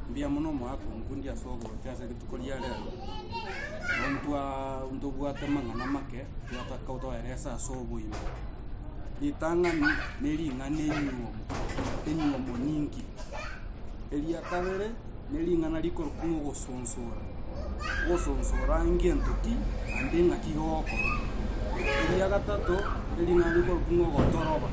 Mbuya mono omogaka omokundi ase ogocha ase rituko ria rero, nabo ntwa ntobwate amang'ana make twataka toeresa ase oboime. Ritang'ani ne ring'ana enyiomi, enyiomi nyinki. Eria kabere ne ring'ana rikorokwa ogosunsura. gosonsora ngento ki naende ng'aki gokora. Eria gatato ering'ana rikorokwa ng'a ogotoroba.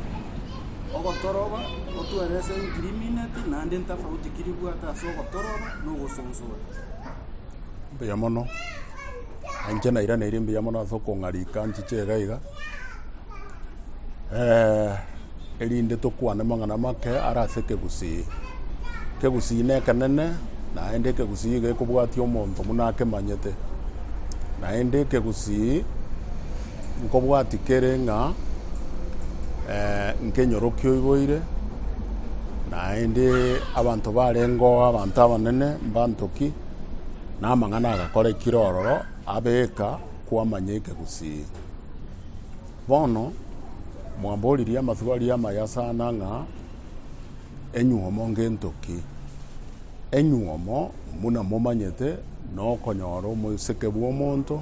Ogotoroba otwerese engiriminati naende entafauti ki ribwate ase ogotoroba na ogosonsora. Mbuya mono. Inche nairaneiri mbuya mono ase okong'arika nchiche iga iga. erinde tokwane amang'ana amake are ase ekegusii. Ekegusii nekenene, naende ekegusii iga ekobwatia omonto buna akemanyete. Naende ekegusii nkobwati kere ng'a eh, nkenyorokia oiboire, naende abanto barengeo abanto abanene mbanto ki, na amang'ana agakorekire ororo abeka kwamanya ekegusii. Bono mwamboririe amasiko aria amaya sana ng'a enyuomo ngento ki? Enyuomo, buna momanyete, nokonyora oboseke bw'omonto,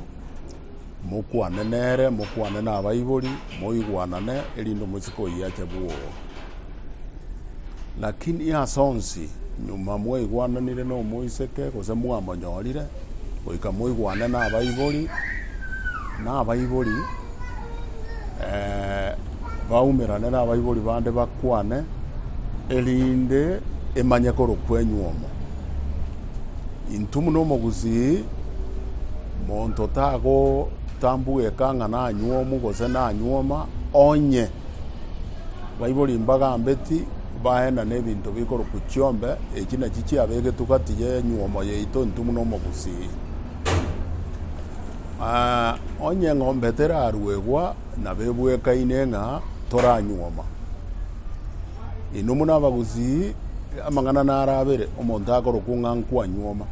mokwane nere, mokwane nabaibori, moigwanane, erinde omosike oyio ache bwogo. Lakini ase onsi, nyuma mwaigwananire nomoiseke, gose mwamonyorire, goika moigwane nabaibori, na abaibori baumerane nabaibori bande bakwane, erinde emanyeke ore kwenyu omo. Intwe buna omogusii, monto tagotambuga ekang'ana anywomu gose nanyuoma onye. baibore imbaga mbeti, baenane ebinto bikorokwa chiombe, echi nachi chiabegetwe gati y'enyuomo yaito intu buna omogusii. Ah, onye eng'ombe teraruegwa, nabo ebwekaine ng'a toranyuoma. Inwe muna abagusii, amang'ana naro abere, omonto akorokwa ng'a nkwanyuoma,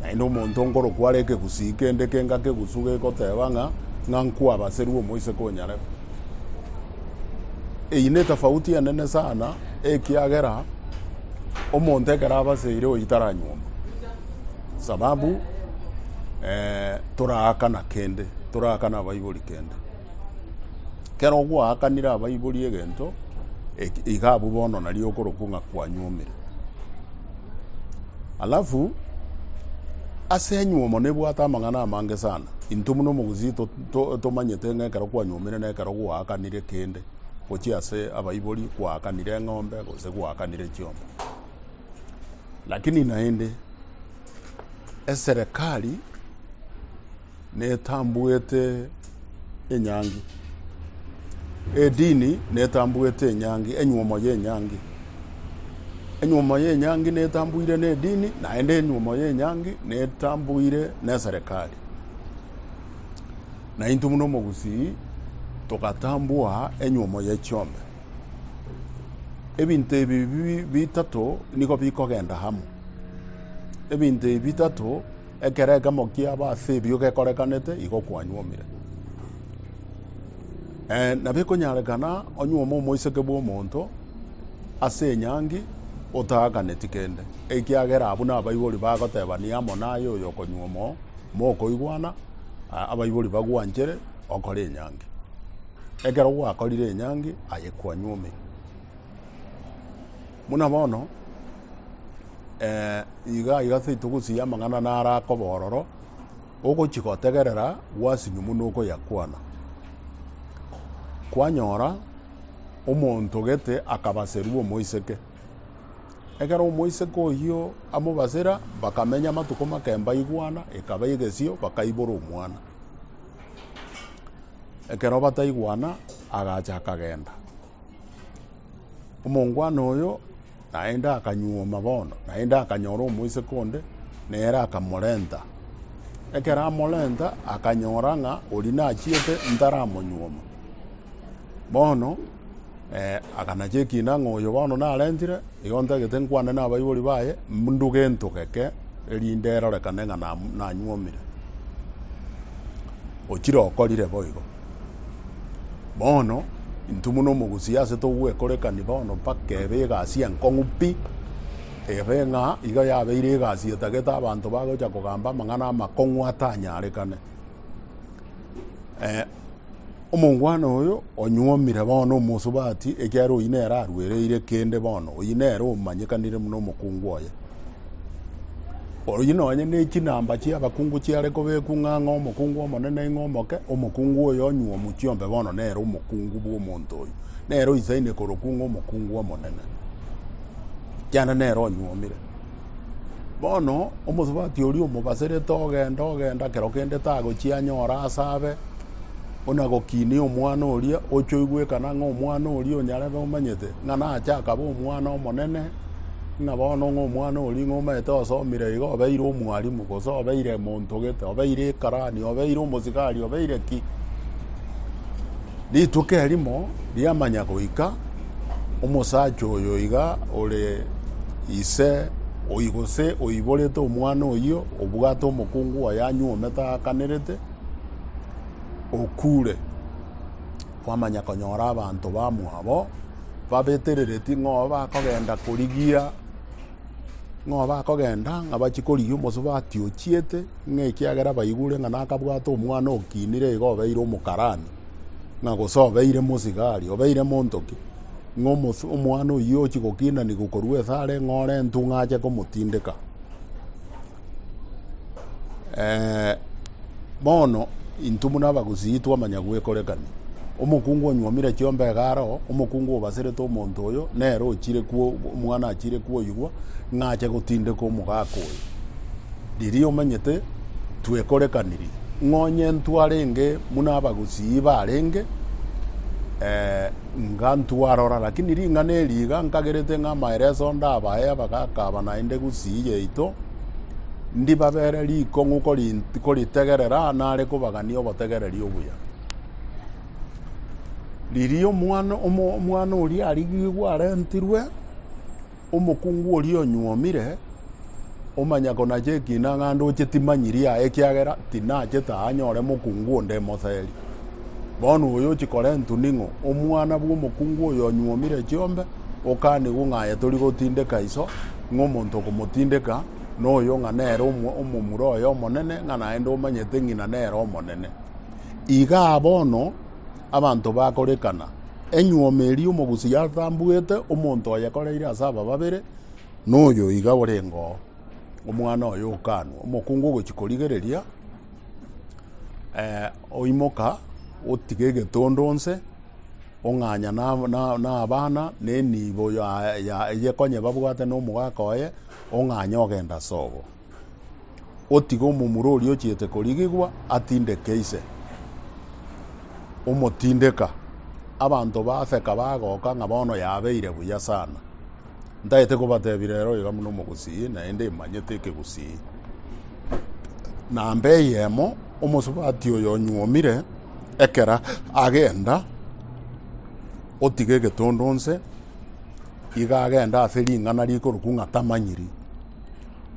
naende omonto nkorokwa are ekegusii kende kengake gusu gegoteba ng'a ng'a nkwabaserwa omoiseke o nyarebe. Eyio netafauti enene sana, ekiagera omonto ekero abaseire oyio taranyuoma, sababu toraakana kende, toraakana abaibori kende. Kero gwakanire abaibori egento, iga abwo bono nario okorokwa ng'a kwanyuomire. Alafu, ase enyuomo nebwate amang'ana amange sana, intwe buna omogusii. To, tomanyete ng'a ekero kwanyuomire na ekero gwaakanire kende, gochia ase abaibori gwaakanire eng'ombe gose gwaakanire chiomba. Lakini naende eserekari netambuete enyangi, edini netambuete enyangi, enyuomo ya enyangi. Enyuomo ya enyangi netambuire na edini, naende enyuomo ya enyangi netambuire na eserekari. naintwe buna omogusii togatambua enyuomo ye chiombe. Ebinto ebi bi- bitato nigo bikogenda amo. Ebinto ebi bitato, ekero ekemo kiaba ase ebio gekorekanete, igo kwanyuomire. Eh, nabo ekonyarekana onyuome omoiseke bw'omonto ase enyangi otaakaneti kende, ekiagera abwo nabaibori bagoteba niye amo naye oyo okonyuoma oo, Mokoigwana, abaibori bagwanchere okore enyangi. Ekero gwakorire enyangi, aye kwanywa ome. Buna bono, eh, iga iga ase togosiria amang'ana naro akoba ororo, ogochi gotegerera gwasinywa buna okoyakwana. Kwanyora omonto gete akabaserwa omoiseke. Ekero omoiseke oyio amobasera, bakamenya amatuko make emba igwana ekaba egesio, bakaibora omwana. Ekero bataigwana, agacha akagenda. Omongwana oyo naende akanyuoma bono, naende akanyora omoiseke onde, nere akamorenta. Ekero amorenta, akanyora ng'a oria nachiete ntaramonyuoma. Bono. Akanacha ekiina ng'a oyo bono narentire, igo ntagete nkwane nabaibori baye, Nduge ntugeke, erinde erorekane ng'a nanyuomire. Ochire okorire boigo. Bono intwe buna omogusi ase togwekorekani bono mpaka ebe egasi enkong'u pi, ebe ng'a iga yabeire egasi etagete abanto bagocha kogamba amang'ana amakong'u atanyarekane. Omongwana oyo onyuomire bono omosubati, ekiagera oyio nere aruereire kende bono, oyio nere omanyekanire buna omokungu oye. Oyio nonye ne chinamba chia abakungu chiare kobekwa ng'a ng'a omokungu omonene ng'a omoke, omokungu oyo onyuomu chiombe bono nere omokungu bw'omonto oyo. Nere oisaine korokwa ng'a omokungu omonene, kianda nere onyuomire. Bono omosubati oria omobaserete ogenda ogenda kero kende tagochia anyore ase abe ona gokinia omwana oria oche oigwekana ng'a omwana oria onyarebe omanyete ng'a nache akaba omwana omonene ng'a bono ng'a omwana oria ng'a omanyete osomire iga obeire omwarimu gose obeire monto gete obeire ekarani obeire omosigari obeire ki. Rituko erimo riamanya goika. Omosacha oyo iga ore ise oyi gose oiborete omwana oyio obwate omokungu oye anywa ometa akanerete, okure. Kwamanya konyora abanto bamwabo babeterereti ng'o bakogenda korigia ng'o bakogenda ng'a bachie korigia omosobe atiochiete ng'a ekiagera baigure ng'a nakabwate omwana okinire iga obeire omokarani. ng'a gose obeire mosigari, obeire monto ki, ng'a omos- omwana oyio ochi gokinanigwa korwa esare ng'a ore entu ng'a ache komotindeka. Eh, bono intwe buna abagusii twamanya gwekorekania. Omokungu onywomire chiomba iga aro, omokungu obaserete omonto oyo, nere ochire kwo- omwana achire kwoigwa ng'a ache gotindeka omogaka oyo. Riria omanyete. twekorekanirie, ng'onyentu arenge buna abagusii barenge, inga ntwarora, lakini ring'ana eri iga nkagerete ng'a amaereso ndabae abagaka aba naende gusii yaito, ndibabere rikong'u koritegerera nare kobagania obotegereri obuya. Riria omwana oria arigigwe arentirwe. Omokungu oria onyuomire omanyako nache ekina ng'a ndoche timanyiri aye ekiagera tinachete aa nyore mokungu onde emoseri. Bono oyo ochikora entu ning'o? Omwana bw'omokungu oyo onyuomire chiombe okanigwa ng'a aye tori gotindeka iso, ng'a omonto okomotindeka noyo ng'a nere omomura oye omonene, ng'a naende omanyete ng'ina nere omonene. Igaa bono abanto bakorekana. Enyuoma eria omogusi yatambuete, omonto oyekoreire ase aba babere noyo iga orenge oo, omwana oye okanwa. Omokungu ogochia korigereria, oimoka, otiga egetondo onse, ong'anya na abana, na enibo eyekonyebabwate na omogaka oye, ong'anya ogenda sobo. otige omomura oria ochiete korigigwa atindeke ise, omotindeka. Abanto baseka bagoka ng'a bono yabeire buya sana. Ntagete kobatebira ere oiga buna omogusii, naende imanyete ekegusii. Namba eyemo, omosubati oyo onyuomire ekera agenda, otiga egetondo nse, iga agenda ase ring'ana rikorokwa ng'a tamanyiri.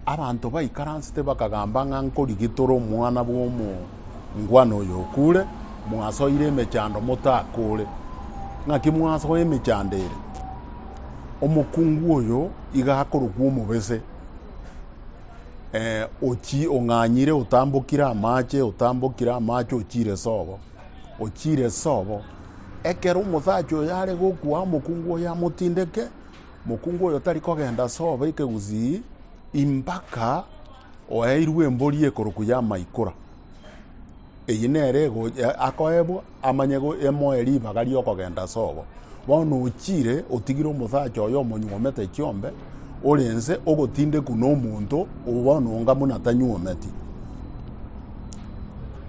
Abanto baikaransete bakagamba ng'a nkorigitore omwana bw'omongwana oyo okure, mwasoire emechando motakore. Ng'aki mwasoa emechando ere? Omokungu oyo iga akorokwa omobese, eh, ochi ong'anyire otambokire amache, otambokire amache ochire sobo, ochire sobo. Ekero omosacha oyo are gokwa, omokungu oyo amotindeke, Mokungu oyo tari kogenda ase obe ekegusii impaka oeirwe embori ekorokwa y'amaikora. Eye nere akoebwa amanye emoe ribaga ri'okogenda ase obo. Bono ochire otigire omosacha oyo omonyuomete chiombe, ore ense ogotindekwa nomonto bono onga buna tanyuometi.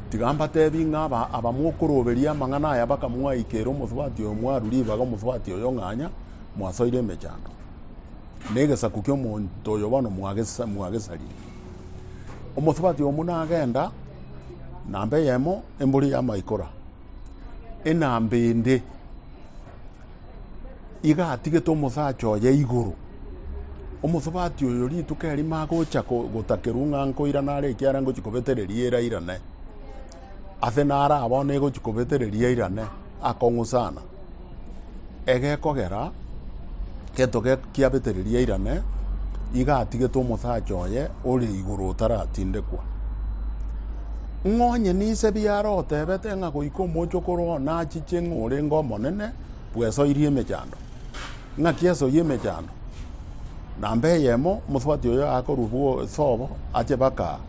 Tiga mbateebie ng'a abamokoroberia amang'ana aya baka mwaikera omosubati oyo mwarwa ribaga omosubati oyo ng'anya, Mwasoire emechando, na egesaku ki'omonto oyo bono mwagesa- mwagesarire. Omosubati omo nagenda, namba eyemo embori y'amaikora, enamba ende iga atigete omosacha oye igoro. Omosubati oyo rituko erimo agocha ko- gotakerwa ng'a nkoirana are ekiagera ngochi kobetereria erairane. Ase naro abana egochi kobetereria eirane, akong'usana. Egekogera gento kiabetereria irane, iga atigete omosacha oye ore igoro otaratindekwa. Ng'a onye ninse biare otebete ng'a goika omochokoro oo nachiche ng'a orenge omonene bw'esoiri emechando. Ng'aki esoiri emechando namba eyemo, omosubati oyo akorua bw'esobo ache baka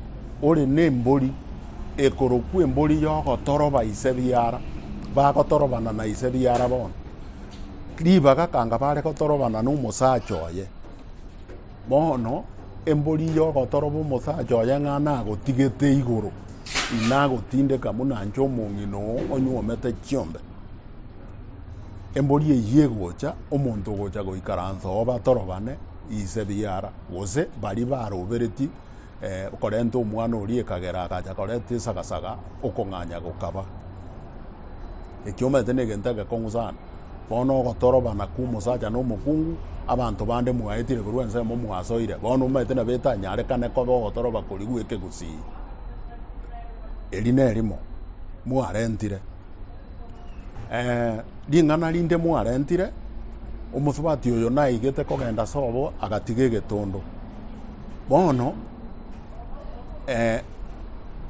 ore nembori. ekorokwa embori y'ogotoroba ise biara, bagotorobana na ise biara bono. Ribaga kanga bare gotorobana na omosacha oye, bono embori y'ogotoroba omosacha oye ng'a nagotigete igoro, inagotindeka buna inche omong'ina oo onywomete chiombe. Embori eyio egocha, omonto ogocha goikaransa oo batorobane ise biara, gose baria baroberetie eh, okorenta omwana oria ekagera agacha koreta esagasaga okong'anya gokaba ekio omanyete na egento egekong'u sana bono ogotorobana kwa omosacha na omokungu abanto bande mwaetire korwa ensemo mwasoire bono omanyete nabo etanyarekane koba ogotoroba kori gwa ekegusii eri nerimo mwarentire eh, ring'ana rinde mwarentire omosubati oyo naigete kogenda sobo agatiga egetondo Bono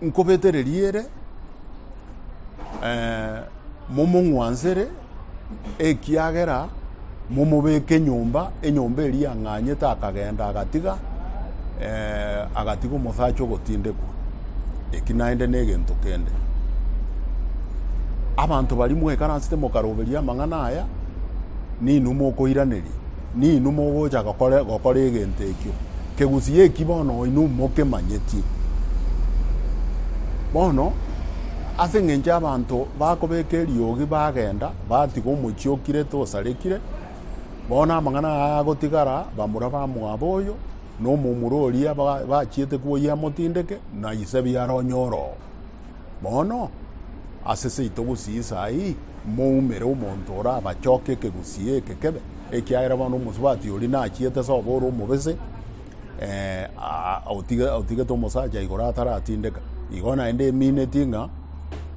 nkobetererie ere, momong'wansere, ekiagera momobeke nyomba, enyomba eria yang'anyete akagenda agatiga, agatiga omosacha ogotindekwa. Eki naende negento kende. Abanto baria mwaikaransete mokaroberia amang'ana aya, ninwe mokoiraneria. ninwe mogocha gokora, gokora egento ekio. Kegusii eki bono inwe mokemanyeti. Bono, ase eng'encho abanto bakobeka eriogi bagenda, batiga omochie okirete osarekire, bono amang'ana aya agotigara bamura ba mwabo oyo, na omomura oria ba- bachiete koyia amotindeke, na ise biara onye oroo. Bono, ase seito gosii saa eyio, moumere omonto orabachoke ekegusii eke kebe, ekiagera bono omosubati oria nachiete sobo ore omobese, otigete omosacha igoro ataratindeka. Igo naende eminetie ng'a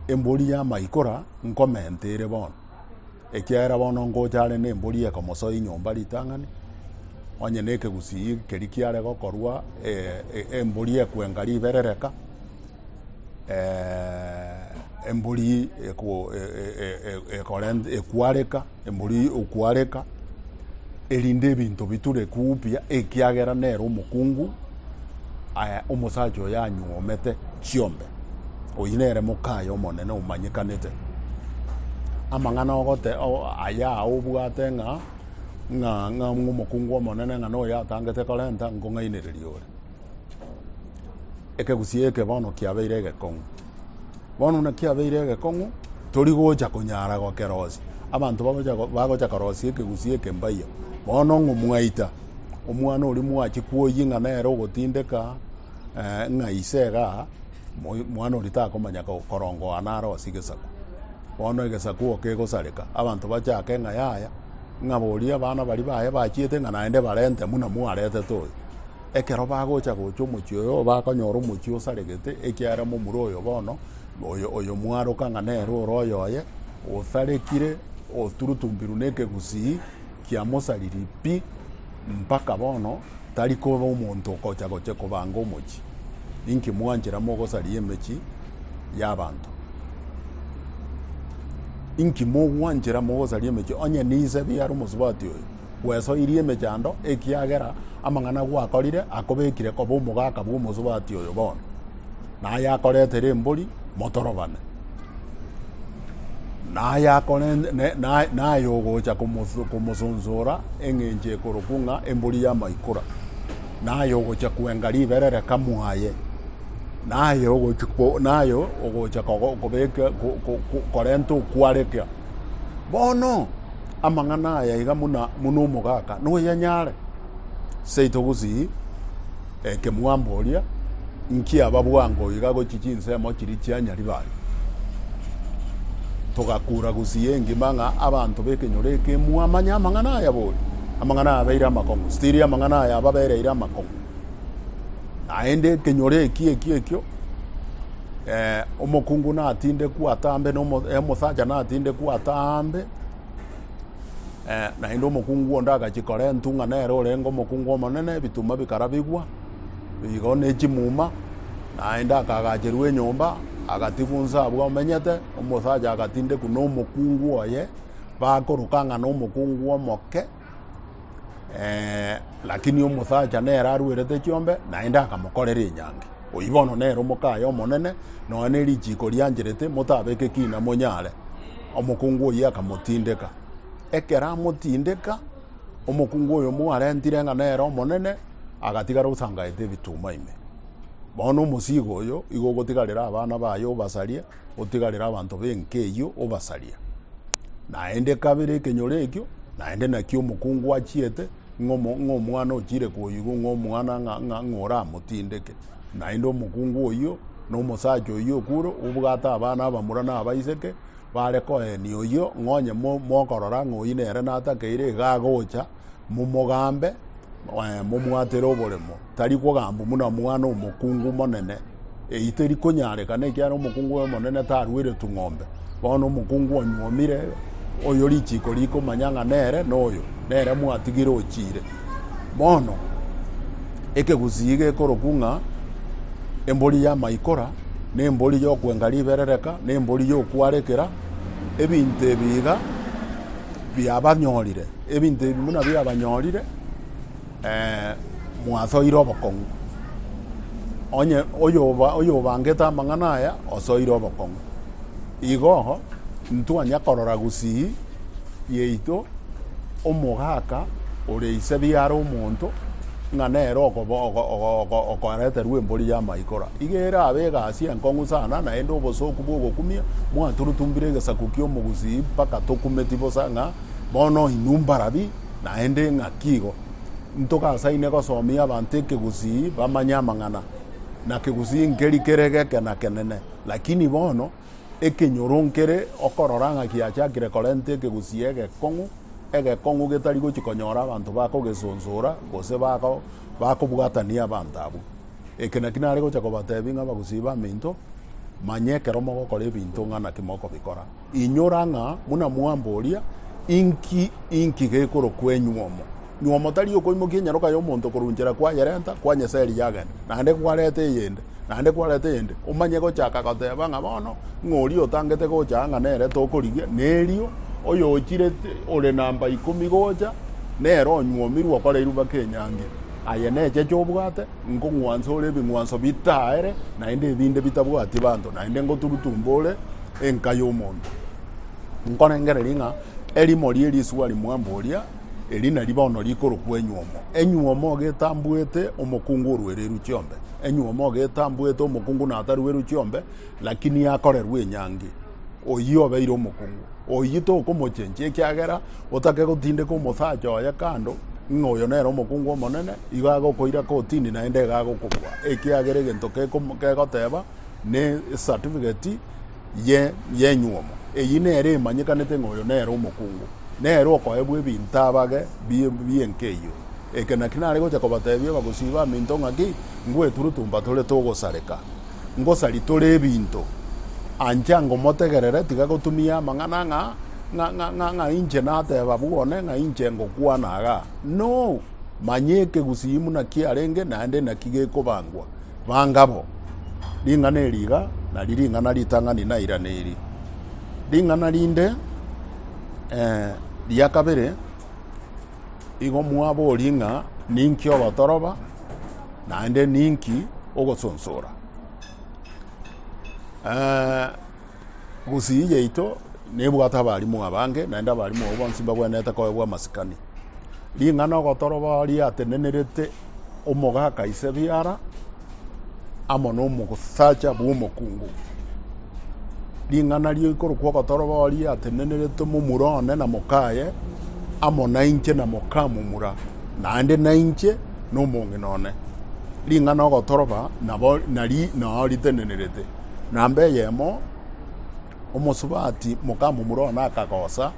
embori y'amaikora nkomenta ere bono. Ekiagera bono ngocha are nembori ekomosoa inyomba ritang'ani, onye nekegusii keri kiare gokorwa embori ekwenga riberereka, embori ekwareka, embori okwareka, erinde ebinto biture kuu buya ekiagera nere omokungu. Aye omosacha oyo anyuomete chiombe, oyio nere mokaye omonene omanyekanete. Amang'ana ogote aya obwate ng'a ng'a ng'a omokungu omonene ng'a noyo atangete korenta nkong'ainereria ore. Ekegusii eke bono kiabeire egekong'u. Bono buna kiabeire egekong'u, tori gocha konyara gokerosia. Abanto bagocha bagocha korosia ekegusii eke mbaia, bono ng'o mwaita? omwana oria mwachie kwoyia ng'a nere ogotindeka eh, ng'a ise iga moi- mwana oria takomanya ko- korongoa naro ase egesaku bono egesaku igo kegosareka abanto bachake ng'a yaya ng'a boria abana baria baye bachiete ng'a naende barente buna mwaretete oyo ekero bagocha gocha omochie oyo bakonyora omochie osaregete ekiagera momura oyo bono oyo oyo mwaroka ng'a nere ore oyoye osarekire oturutumbirwe na ekegusii Kiamosariri pi, mpaka bono tari koba omonto okocha goche kobanga omochie. Inki mwanchera mogosaria emechie y'abanto? Inki mogwanchera mogosaria emechie? Onye nise biara omosubati oyo, bwesoirie emechando, ekiagera amang'ana gwakorire akobekire koba omogaka bw'omosubati oyo bono. Naye akoretera embori motorobane, naye ogocha komosonsora eng'encho ekorokwa ng'a embori y'amaikora, naye ogocha kwenga riberereka mwaye, naye ogocha korenta okwareka. Bono amang'ana aya iga buna omogaka noyanyare, seito gosii. Eke mwamboria, Inki aba bwango iga gochia chinsemo chiria chia Nyaribari? togakuura gusii engima ng'a abanto b'ekenyoro eke mwamanye amang'ana aya bori. Amang'ana aya abeire amakong'u, stiri amang'ana aya ababereire amakong'u. Naende ekenyoro eki ekio ekio eh, omokungu natindekwe atambe, na omosacha natindekwe atambe, Naende omokungu onde agachia korentwa ng'a nere orenge omokungu omonene, ebituma bikarabigwa igo ne chimuma, naende akagacherwa enyomba, agatigwa onsi abwo amenyete. Omosacha agatindekwa na omokungu oye, bakoroka ng'a nomokungu omoke, lakini omosacha nere arwerete chiombe, naende akamokorera enyangi. Oyio bono nere omokaye omonene, nonya ne richiko riancherete, motabeke kina monyare. Omokungu oyio akamotindeka. Ekero amotindeka, omokungu oyomo arentire ng'a nere omonene agatigara osangaete ebituuma ime. Bono omosiiga oyo igo ogotigarera abana baye obasarie, otigarere abanto b'enka eyio obasarie. Naende kabere ekenyoro ekio, naende nakio omokungu achiete ng'a omo- ng'a omwana ochiire koigwa ng'a omwana ng'a- ng'a- ng'a oramotindeke. Naende omokungu oyio na omosacha oyio okure obwate abana abamura na abaiseke, Bare koenia oyio, ng'a onye mokorora ng'a oyio nere natakeire, iga agocha, momogambe, momwatere oboremo. Tari kogambwa buna mwana omokungu omonene. Eyio teri konyarekana, ekiagera omokungu oyo omonene tarueretu ng'ombe. Bono omokungu onyuomire, oyo richiko rikomanya ng'a nere noyo, nere mwatigire ochire. Bono ekegusii gekorokwa ng'a embori y'amaikora, na embori y'okwenga riberereka, na embori y'okwarekera, ebinto ebi iga biabanyorire, ebinto ebi buna biabanyorire eh, mwasoire obokong'u. Onye oyoba- oyobangete amang'ana aya, osoire obokong'u. Igo ntwanya korora gusii yaito omogaka ore ise biaro omonto, ng'a nere okoareterwa embori y'amaikora. Iga erabe egasi enkong'u sana, naende obosooku bw'ogokumia mwaturutumbire egesaku ki'omogusii mpaka tokumeti bosa ng'a bono inwe mbarabi naende ng'aki igo. Ntogasaine gosomia abanto ekegusii bamanye amang'ana, na kegusii nkeri kere geke na kenene. Lakini bono ekenyoro nkere okorora ng'a kiachakire korenta ekegusii egekong'u, egekong'u getari gochia konyora abanto bakogesonsora gose bakobwatania abanto abwo. Eke naki nare gocha kobatebia ng'a abagusii b'aminto, manya ekero mogokora ebinto ng'a naki mokobikora. Inyora ng'a buna mwamboria, Inki, inki gekorokwa enywomo? Nywomo tari okoimokia enyaroka y'omonto korwa nchera kwayerenta, kwanyesa eria yagenda, naende kwareta eyende, naende kwareta eyende, omanye gochaka goteba ng'a bono ng'a oria otangete gocha ng'a nere tokorigia, na erio oyochireti ore namba ikomi gocha nere onywomi rwokora erubaka enyangi. Aye necheche obwate, nkong'wansa ore ebing'wanso bitaere, naende ebinde bitabwati banto, naende ngoturutumba ore, enka y'omonto. Nkorengereria ng'a erimo rie risuba rimwambe oria, eri nari bono rikorokwa enyuomo. Enyuomo getambwete omokungu orwereru chiombe. Enyuomo getambwete omokungu natarweru chiombe, lakini akorerwa enyangi. Oyio obeire omokungu. Oyio tokomochenchia ekiagera otake gotindeka omosacha oye kando ng'a oyo nere omokungu omonene, igo agokoira kotini naende iga agokobua, ekiagera egento kegoteba ne esatifigeti ye yenyuomo. Eyi nere emanyekanete ng'a oyo nere omokungu. Nere okoebwa ebinto abage bi bienka eyio. Eke naki nare gocha kobatebia abagosii baminto ng'a ki, Ngweturutumba tore togosareka. Ngosari tore ebinto. Ancha ngomotegerere tiga gotumia amang'ana ng'a ng'a ng'a ng'a ng'a inche nateba abwo one ng'a inche ngokwana igaa. No! Manya ekegusii muna kiarenge naende naki gekobangwa. Bangabo, ring'ana eri iga nari ring'ana ritang'ani nairana eri. Ring'ana rinde ria kabere igo mwaborie ng'a ninki ogotoroba naende ninki ogosonsora. Gusii yaito nebwate abalimu abange, naende abalimu abwo bonsi mbagwenerete koegwa amasikani. Ring'ana ogotoroba riatenenerete omogaka ise biara amo nomosacha bw'omokungu. Ring'ana rikorokwa ogotoroba riatenenerete momura one na mokaye amo nainche na mokamomura, naende nainche nomong'ina one. Ring'ana ogotoroba nabo nari nao ritenenerete. Namba eyemo, omosubati mokamomura one akagosa,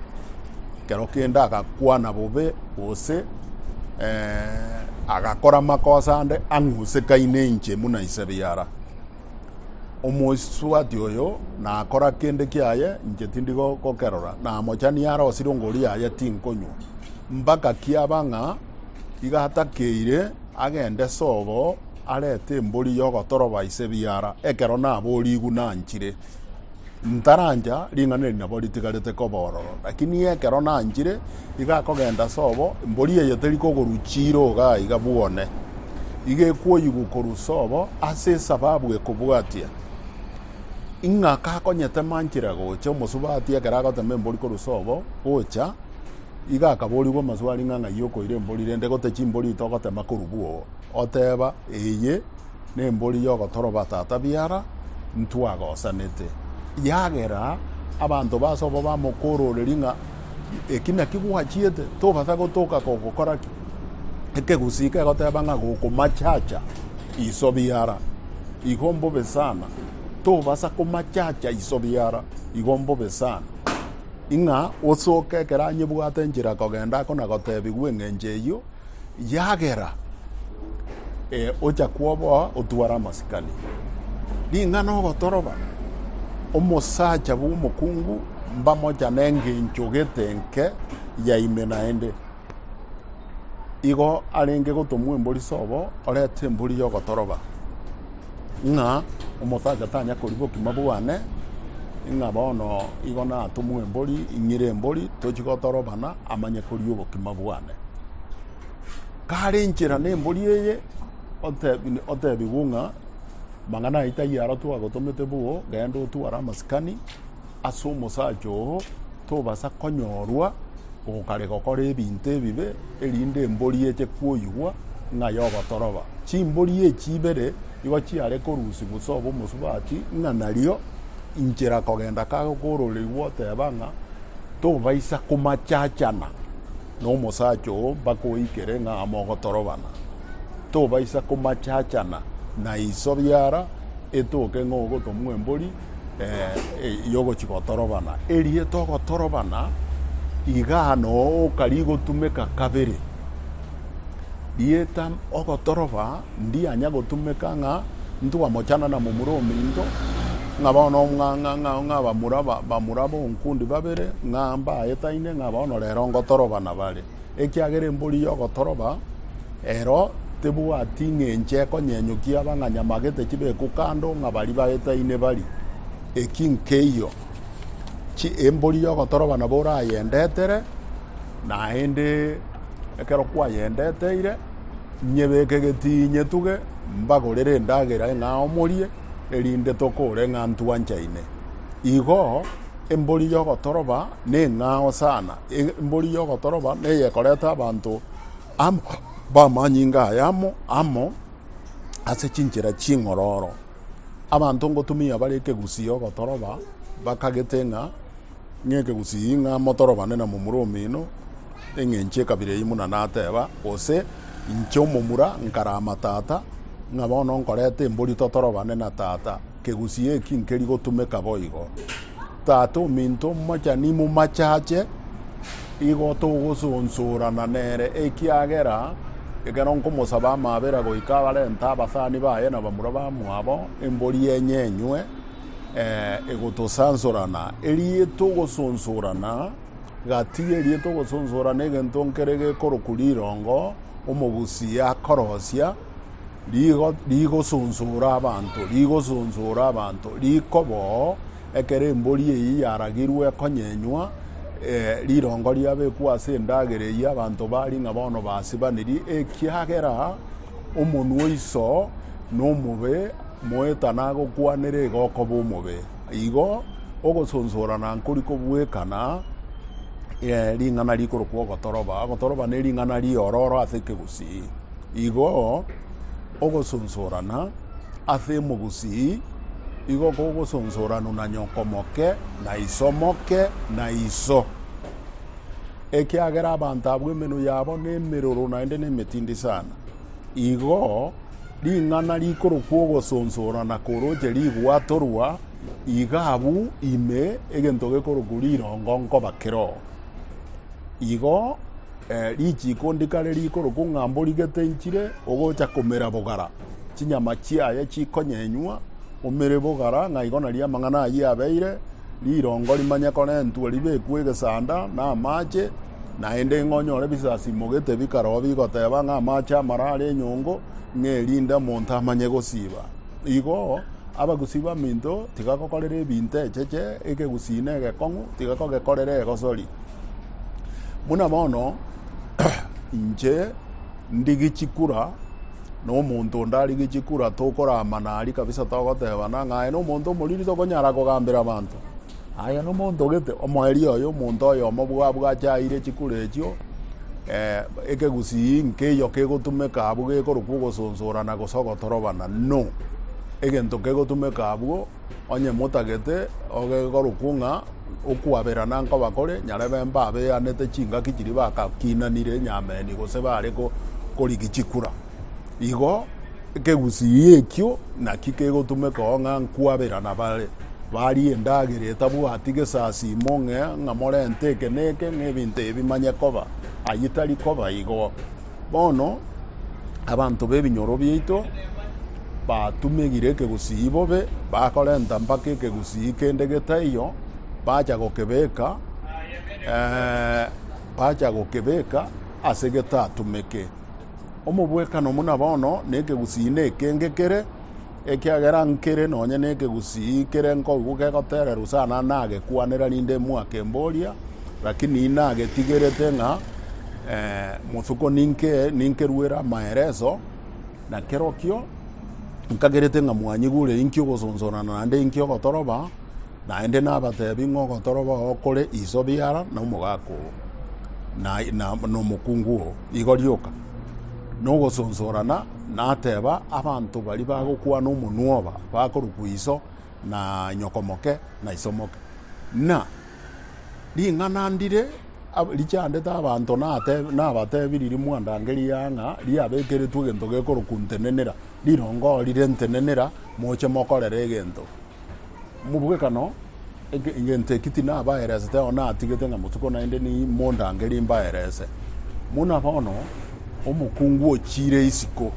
ekero kende agakwana bobe, gose agakora amakosa ande ang'usekaine inche buna ise biara. Omosubati oyo nakora kende kiaye inche tindi gokerora, namochani arosire ongoria yaye tinkonywa, mpaka kiaba ng'a. Iga atakeire agende sobo arete embori y'ogotoroba ise biara, ekero naboorigwe nanchire. Ntarancha, ring'ana eri nabo ritigarete koba ororo. Lakini ekero nanchire, iga akogenda sobo, embori eye teri kogorwa chiira iga aiga bwone. Iga ekoyigwa korwa sobo ase esababu ekobwatia. Ing'aka akonyetema nchire gocha, omosubati ekero agotema embori korwa sobo gocha, Iga akaboorigwa amaswali ng'a, Ng'ai okoira embori, rende gotee chimbori ito ogotema korw'gwo? Oteeba, Eye nembori y'ogotoroba tata biara, ntwagosanete. Yagera abanto b'ase obo bamokoororeria ng'a, Eki naki gwachiete, tobasa gotoka kogokora ki? Ekegusii kegoteeba ng'a gokomachacha iso biara, igo mbobe sana, tobasa komachacha iso biara, igo mbobe sana. Ing'a osoke ekero anyebwate enchera kogenda ako na gotebigwa eng'encho eyio yagera, ee, ocha kwoboa otware amasikani. Ring'ana ogotoroba omosacha bw'omokungu mbamochane engencho gete enke yaime naende. igo arenge gotomwa embori sobo orete embori y'ogotoroba ng'a omosacha tanya kori bokima bwane ng'a bono igo natomwe embori ing'ire embori tochi gotorobana amanye kori obokima bwane kare inchera na embori eye otebi- otebigwe ng'a mang'ana aye taiyo aro twagotomete boo genda otware amasikani ase omosacha oo tobasa konyorwa gokare gokora ebinto ebibe, erinde embori eche kwoigwa ng'a yogotoroba. Chimbori echi ibere igo chiare korusia obosobo omosubati, ng'a nario inchera kogenda kago korore igwo oteba ng'a tobaisa komachachana nomosacha oo mpaka oikere ng'a mogotorobana. Tobaisa komachachana na iso biara etoke ng'a ogotomwa embori. y'ogochia gotorobana. Erieta ogotorobana, igaa noo oka rigotumeka kabere. Rieta ogotoroba ndianya gotumeka ng'a ntwamochana na momura ominto, ng'a bono ng'a- ng'a- ng'a- ng'a bamura ba- bamura bonkundi babere ng'a mbaetaine ng'a bono rero ngotorobana bare. Ekiagera embori y'ogotoroba ero tebwati ng'encho ekonyenyokia abang'anyamagete chibekwe kando ng'a baria baetaine bari. Eki nkeiyo, chi embori y'ogotoroba nabo orayendetere, naende ekero kwayendeteire, nyebeke getii nyetuge, mbagorere endagera eng'ao morie, erinde tokore ng'a ntwanchaine. Igo. Embori y'ogotoroba neng'ao sana, embori y'ogotoroba neye ekoreta abanto amo b'amanyinga aya amo amo ase chinchera ching'ororo. Abanto ngotumia bare ekegusii ogotoroba bakagete ng'a ng'ekegusii ng'a motorobane na momura omino eng'encho ekabira eyio buna nateba gose inche omomura nkara matata ng'a bono nkoreta embori totorobane na tata. Kegusii eki nkeri gotumeka boigo. Tata ominto omochani momachache, igo togosonsorana nere, ekiagera ekero nkomosaba amabera goika abarente abasani baye na bamura bamwabo, embori enye enywe, egotosansorana. Erie togosonsorana, gati erie togosonsorana egento nkere gekorokwa rirongo, Omogusii akorosia. Rigo rigosonsora abanto, rigosonsora abanto, riko bo, ekero embori eyio yaragirwe ekonyenywa, eh, rirongo riabekwa ase endagera eyio, abanto bari ng'a bono basibaniri, ekiagera omonwa o iso nomobe moetana agokwanera iga okoba omobe. Igo ogosonsora na nkori kobuekana eh, ring'ana rikorokwa ogotoroba. Ogotoroba ne ring'ana riororo ase ekegusii. Igo ogosonsorana ase emogusii igo kogosonsoranu na nyoko moke na iso moke na iso, ekiagera abanto abwo emenwa yabo nemeroro naende nemetindi sana. Igo ring'ana rikorokwa ogosonsorana koroche rigwatorwa, iga abwo ime egento gekorokwa rirongo nkoba kiroo. Igo. Eh, richiiko ndikare rikorokwa ng'a mborigete nchire ogocha komera bogara, chinyama chiaye chikonyenywa omere bogara, ng'a igo nario amang'ana ayio abeire, rirongo rimanye korentwa ribekwe egesanda na amache, naende ng'a onyore bisasimogete bikaroo bigoteba ng'a amache amara are enyongo, ng'a erinde omonto amanye gosiba. Igo abagusi baminto tigakokorera ebinto echeche, ekegusii na egekong'u tigakogekorera egosori. Buna bono inche ndi gichikura, na omonto onde ari gichikura, tokoramana aria kabisa togotebana ng'a aye nomonto omoriri, tokonyara kogambera abanto aye nomonto gete omoerio oye, omonto oyomo bwa bwache aire chikura echio eh, ekegusii nkeiyo kegotumeka abwo gekorokwa ogosonsorana gose ogotorobana no egento kegotumeka abwo Onye motagete ogekorokwo ng'a okwaberana nkoba kore, nyarebe mbabeanete chingaki chiria bagakinanire nyameni gose bare korigia chikura. Igo ekegusii ekio naki kegotumekao ng'a nkwaberana bare barie endagera etabwati gesasimo ng'a morente eke na eke ng'a ebinto ebi manye koba. Ayio tari koba igo. Bono abanto b'ebinyoro biaito batumegire ekegusii bobe, bakorenta mpaka ekegusii kende getaiyo, bacha gokebeka bacha gokebeka ase getatumeke. Omobwekano buna bono nekegusii nekenge kere. Ekiagera nkere nonye nekegusii kere nkoigwa kegotererwa sana nagekwanera rinde mwakemboria, rakini nagetigerete ng'a eh, motuko ninke ninkerwere amaereso, na kerokio nkagerete ng'a mwanyigure inki ogosonsonana naende inki ogotoroba, naende nabatebi ng'a ogotoroba oo kore iso biara na omogaka oo na, na, na omokungu oo. Igo rioka. nogosonsorana, nateba, Abanto baria bagokwana omonwoba bakorokwa iso na nyokomoke na isomoke. Na ring'ana ndire richandete abanto nabatebirie mwandange ria ng'a riabekeretwe egento gekorokwa ntenenera, rirongo rire ntenenera moche mokorere egento. Mobwekano, egento eki tinabaeresete ao natigete ng'a motuko naende nimondangerie mbaerese. Buna bono omokungu ochiire isiko,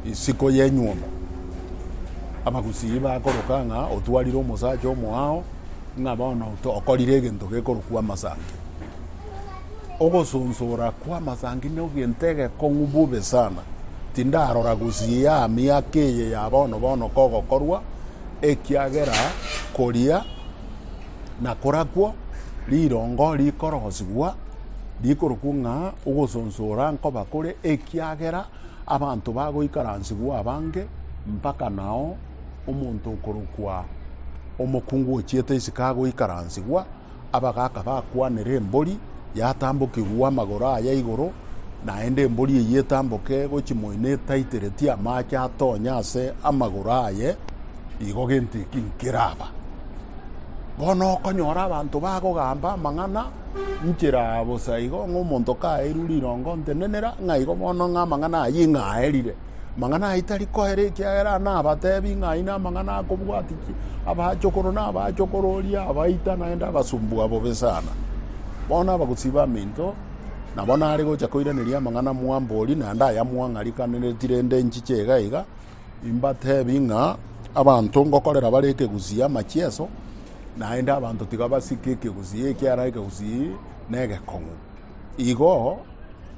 isiko y'enyuomo, abagusii bakoroka ng'a otwarire omosacha omoao ng'a bono okorire egento gekorokwa amasanki. Ogosonsora kw'amasangi nogento egekong'u bobe sana. Tindarora gosiia miaka eye ya bono bono kogokorwa, ekiagera koria na korakwo rirongo rikorosigwa rikorokwo ng'a ogosonsora nkoba kore, ekiagera abanto bagoikaransigwa abange, mpaka nao omonto okorokwa omokungu ochiete isiko agoikaransigwa. abagaaka bakwanere embori yatambokigwe amagoro aye igoro, naende embori eyio etamboke gochia moino etaiteretie amaache atonye ase amagoro aye, igo gento eki nkeraba. Bono okonyora abanto bagogamba amang'ana nchera bosa igo, ng'a omonto kaeirwe rirongo, ntenenera ng'a igo bono ng'a amang'ana ayio ing'aerire. Amang'ana aya tari koera ekiagera nabatebi ng'a aye namang'ana akobwati abachokoro na abachokoro oria abaita naende abasumbu abo besana. Bono abagosiba minto nabo nare gocha koiraneria amang'ana mwambori naende aya mwang'arikanereti rende nchiche iga iga imbatebi ng'a abanto ngokorera bare ekegusii amachieso naende abanto tiga basike ekegusii ekiara ekegusii negekong'u. Igo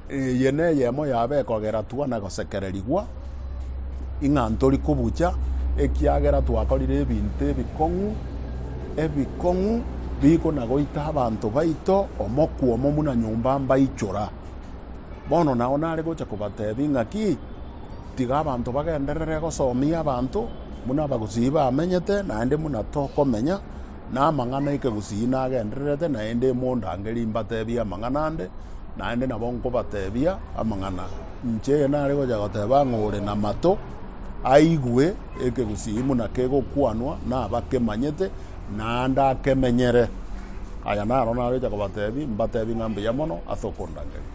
eye neyemo yabo ekogeratwa na gosekererigwa, ing'a ntori kobucha, ekiagera twakorire ebinto ebikong'u, ebikong'u biko na goita abanto baito omokwomo buna nyomba mbaichora. Bono nao nare gocha kobatebia ing'aki, Tiga abanto bagenderere gosomia abanto, buna abagusii bamenyete, naende buna tokomenya, Namang'ana ekegusii nagendererete, naende imondange rimbatebie amang'ana ande, naende nabo nkobatebia amang'ana. Inche nare gocha goteba ng'a ore namato, aigwe ekegusii buna kegokwanwa, nabakemanyete, naende akemenyere. Aya naro nare gocha kobatebia, mbatebie ng'a mbuya mono ase okondangeria.